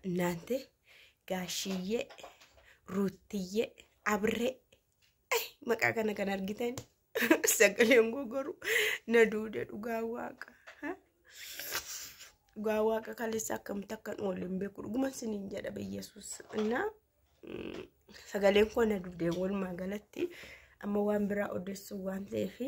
እናante gaashiyyee ruuttiyyee abree ay maqaa kana kan argitan sagaleen gogoru na duude dhugaa waaqa ha? dhugaa waaqa kaleessa akkamitti akkan oolu hin beeku dhuguman siniin jedha biyyesuus innaa mm, sagaleen koo na duude walumaa galatti amma waan biraa odeessuu waan ta'eefi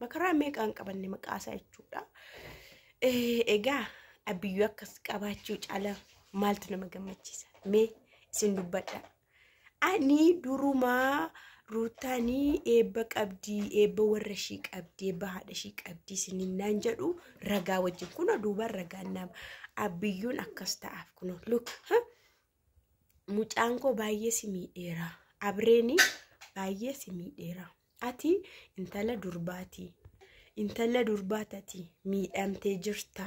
makaraa meeqaan qabanne maqaasaa jechuudha. Egaa abbiyyuu akkas qabaachuu caalaa maaltu nama gammachiisa mee isin dubbadha. Ani durumaa ruuttaanii eebba qabdii eebba warra ishii qabdii eebba haadha ishii qabdii isiniin naan jedhu ragaa wajjin kunoo duuba ragaan nama abbiyyuun akkas ta'aaf kunoo luk mucaan koo baay'ee si miidheera abreeni baay'ee si miidheera. Ati intala durbaati. Intala durbaa tati miidhamtee jirta.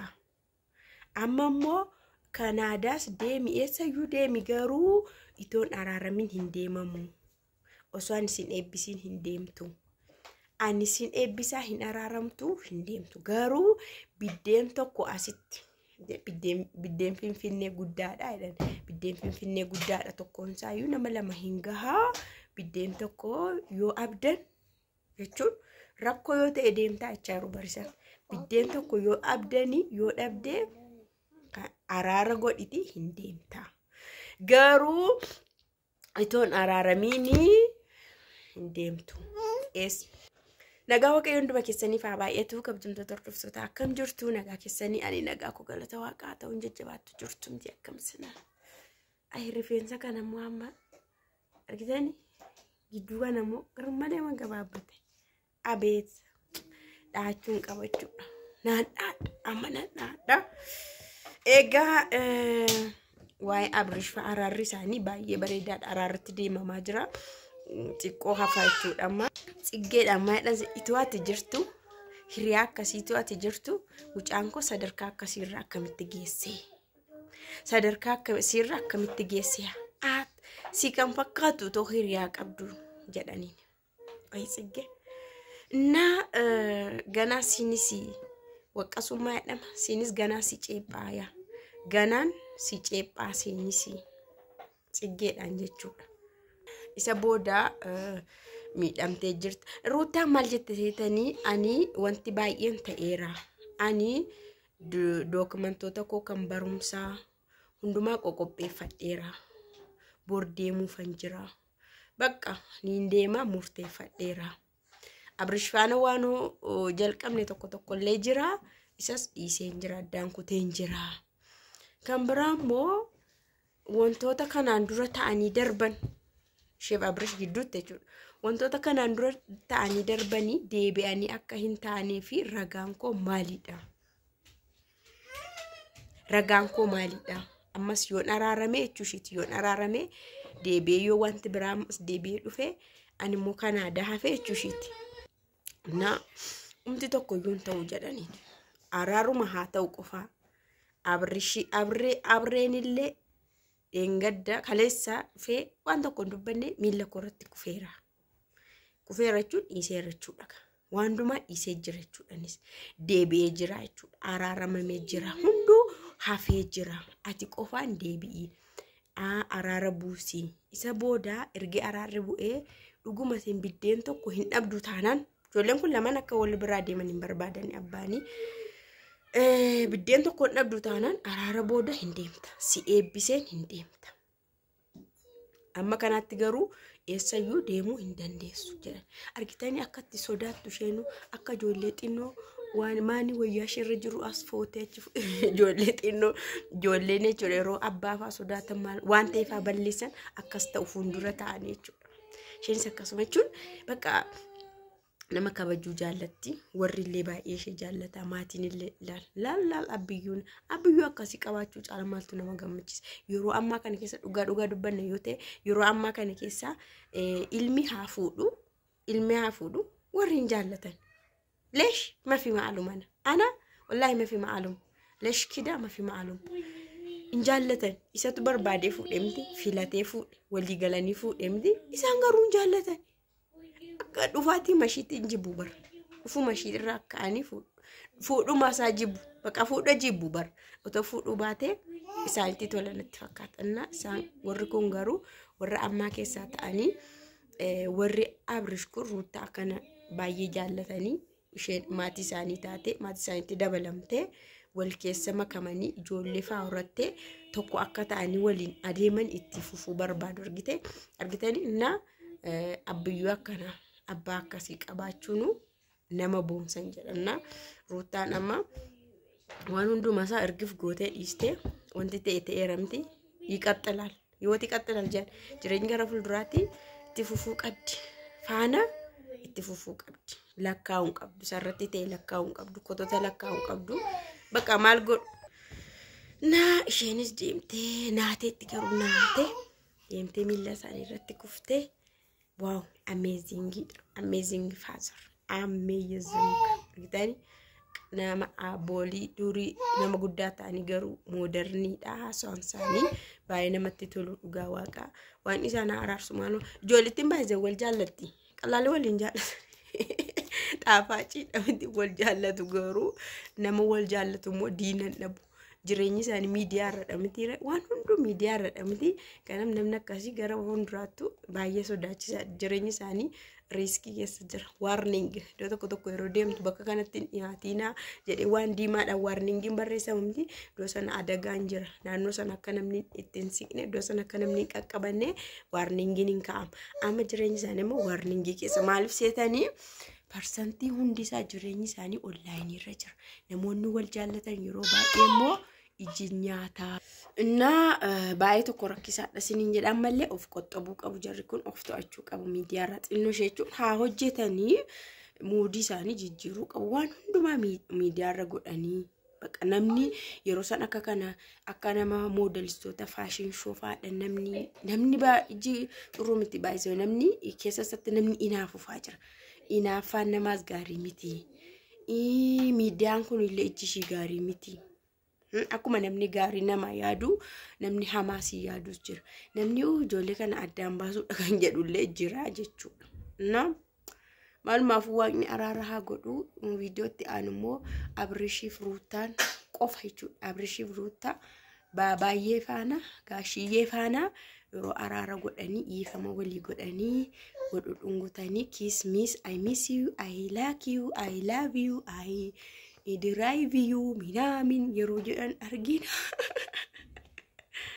Amma immoo Kanaadaas deemi eessayyuu deemi garuu itoon araaramin hin deemamu. Osoo ani sin eebbisiin hin deemtu. Ani sin eebbisaa hin araaramtu hin deemtu. Garuu biddeen tokko asitti biddeen biddeen finfinnee guddaadha jedhan biddeen finfinnee guddaadha tokkoon isaayyuu nama lama hin gahaa biddeen tokko yoo abdan jechuun rakkoo yoo ta'e deemtaa jechaa yeroo barisan biddeen tokko yoo abdanii yoo dhabdee kan araara godhiti hin deemtaa garuu itoon araaramiini hin deemtu. Ees. Nagaa waaqayyoo hunduma keessaniif haa baay'atu kabajamtoota hordoftoota akkam jirtu nagaa keessanii ani nagaa koo galata waaqaa ta'uun jajjabaattu jirtu miti akkam sina. Ayi rifeensa kana immoo amma argitani gidduu kana immoo garmalee waan gabaabbate. Abeet dhaachuun qabachuudha. Naadhaadha amma naadhaadha. Egaa eh, waa'ee Abrish fa'a araarri isaanii baay'ee bareedaadha. Araarratti deemamaa jira. Mm, Xiqqoo hafaa jechuudha amma. Tsiggeedha amma jedhan ituu ati jirtu hiriyaa akkasiitu ati jirtu mucaan koo sadarkaa akkasiirra akkamitti geessee? sadarkaa akkasiirra akkamitti geessee? Aat si kan fakkaatu otoo hiriyaa qabdu jedhaniin. Ay tsigge. Na ganaa siinis waqqasummaa jedhama. Siinis ganaa si ceephaaya. Ganaan si ceephaa siinis tsiggeedhaan jechuudha. Isa booda miidhamtee jirta. Ruutaa maal jette seetanii ani wanti baay'een ta'eera. Ani dookumentoota koo kan barumsaa hundumaa qoqopheeffadheera bor deemuufan jira bakka niin deemaa murteeffadheera abrish faana waan jalqabne tokko tokko illee jira isas dhiiseen jira addaan kuteen jira kan biraa immoo wantoota kanaan dura ta'anii darban sheef abrish gidduutti jechuudha wantoota kanaan dura ta'anii darbanii deebi'anii akka hin taanee fi ragaan koo maalidha ragaan koo maalidha ammas yoon araarame jechuu ishiiti yoon araarame deebi'ee yoo wanti biraa ammas deebi'ee dhufe ani immoo kan aadaa hafe jechuu ishiiti na umti tokko iyyuu hin ta'u jedhaniin araaruma haa ta'u qofaa abrishi abree abreenillee dheengadda kaleessa dhufee waan tokko hin dubbanne miila koo irratti kufeera kufeera jechuun dhiiseera jechuudha. Waan hundumaa dhiisee jira jechuudha innis. Deebi'ee jira jechuudha. Araaramamee jira. Hunduu hafee jira. Ati qofaan deebi'i. Aa, Araara buusii. Isa booda ergi araarri bu'ee dhuguma isin biddeen tokko hin dhabdu taanaan ijoolleen kun lamaan akka wal biraa deeman hin barbaadani abbaanii. Eh, Biddeen tokko hin dhabdu taanaan araara booda hin deemta. Si eebbiseen hin deemta. Amma kanaatti garuu eessayyuu deemuu hin dandeessu jedhan. Argitanii akkatti sodaattu isheenuu akka ijoollee xinnoo waan maanii wayyaa isheerra jiru as footee achi fu- ijoollee xinnoo ijoolleen jechuudha yeroo abbaa fa'aa sodaatan maal waan ta'e fa'aa balleessan akkas ta'u fuuldura ta'anii jechuudha. Isheenis akkasuma jechuun bakka nama kabajuu jaallatti warri illee baay'ee ishee jaallata maatiin illee laal laal laal abbiyyuun abbiyyuu akkasii qabaachuu caala maaltu nama gammachiisa yeroo ammaa kana keessa dhugaa dhugaa dubbanne yoo ta'e yeroo ammaa kana keessa eh, ilmi haa fuudhu ilmi haa fuudhu warri hin jaallatan leesh mafi ma'aalum ana ana wallaahi mafi ma'aalum leesh kidaa mafi ma'aalum hin jaallatan isatu barbaadee fuudhe miti filatee fuudhe walii galanii fuudhe miti isaan garuu hin jaallatan Akka dhufaatii mashiitti hin jibbu bar. Dhufuu mashii irraa ka'anii fuudhu. Fuudhumaa isaa jibbu. Bakka fuudha jibbu bar. Otoo fuudhuu baatee isaanitti tola natti fakkaata. Innaa isaan warri kun garuu warra ammaa keessaa ta'anii eh, warri Abrish kun ruuttaa akkana baay'ee jaallatanii isheen maatii isaanii taate maatii isaaniitti dabalamtee wal keessa makamanii ijoollee faa horattee tokko akka ta'anii waliin adeeman itti fufuu barbaadu argite argitanii na eh, abbiyyuu akkana abbaa akkasii qabaachuunu nama boonsan jedhanna ruuttaan amma waan hundumaa isaa ergif gootee dhiistee wanti ta'e ta'eeramti ይቀጥላል Yoo xiqqatte nal jedhan jireenyi gara fuulduraatti itti fufuu qabdi. Faana itti fufuu qabdi. Lakkaa'uu hin qabdu. Sarratti ta'e lakkaa'uu hin qabdu. Kotota lakkaa'uu hin qabdu. Bakka maal godhu? Naa isheenis deemtee naateetti garuu naatee deemtee miila isaanii irratti kuftee Wow, amazing, amazing father, amazing. Argitanii nama aboolii durii nama guddaa ta'anii garuu moodarniidha haasawaan isaanii baay'ee namatti tolu dhugaa waaqaa waan isaan haa araarsu maaloo ijoollettiin baay'ee wal jaallatti qalaalee waliin jaallatu xaafaaciidha miti wal jaallatu garuu nama wal jaallatu immoo diinan dhabu Jireenyi isaanii miidiyaa irra dhamiti. Waan hunduu miidiyaa irra dhamiti. Kanaaf namni akkasii gara fuulduraattu baay'ee sodaachisa. Jireenyi isaanii riiskii keessa jira. Waarning iddoo tokko tokko yeroo deemtu bakka kanatti hin dhiyaatiinaa jedhee waan diimaadhaan waarningiin barreessamamti. Iddoo sana adagaan jira. Naannoo sana akka namni itti hin siqne, iddoo sana akka namni hin qaqqabanne waarningiin hin kaa'ama. Amma jireenyi isaanii immoo waarningii keessa maaliif seetanii? Parsantii hundi isaa jireenyi isaanii onlaayinii irra jira. Namoonni wal jaallatan yeroo baay'ee immoo iji nyaataa. Innaa eh, baay'ee tokko rakkisaadha siniin jedha ammallee of qoxxabuu qabu jarri kun of to'achuu qabu miidiyaarra xinnoo ishee jechuun haa hojjetanii muudii isaanii jijjiiruu qabu waan hundumaa mii- miidiyaarra godhanii Baqa namni yeroo san akka kana akka nama moodelistoota faashin shoofaadha namni namni baay'ee xuruu miti baay'isoo namni keessa isaatti namni inaafufaa jira. Inaaffaan namaas gaarii miti. Ii, Miidiyaan kun illee ijji ishii gaarii miti. Hmm, Akkuma namni gaarii nama yaadu namni hamaa si yaadus jira. Namni "Uu, ijoollee kana addaan baasuudha kan jedhullee jira jechuudha. No? Maalumaaf waaqni araara haa godhu viidiyootti aanu immoo Abrishiif Ruuttaan qofa jechuudha. Abrishiif Ruuttaa baay'ee faana gaashiyyee faana yeroo araara godhanii dhiifama walii godhanii godhu dhungutanii kiis miis I miss you I like you I love you I drive you minaamin yeroo jedhan argina.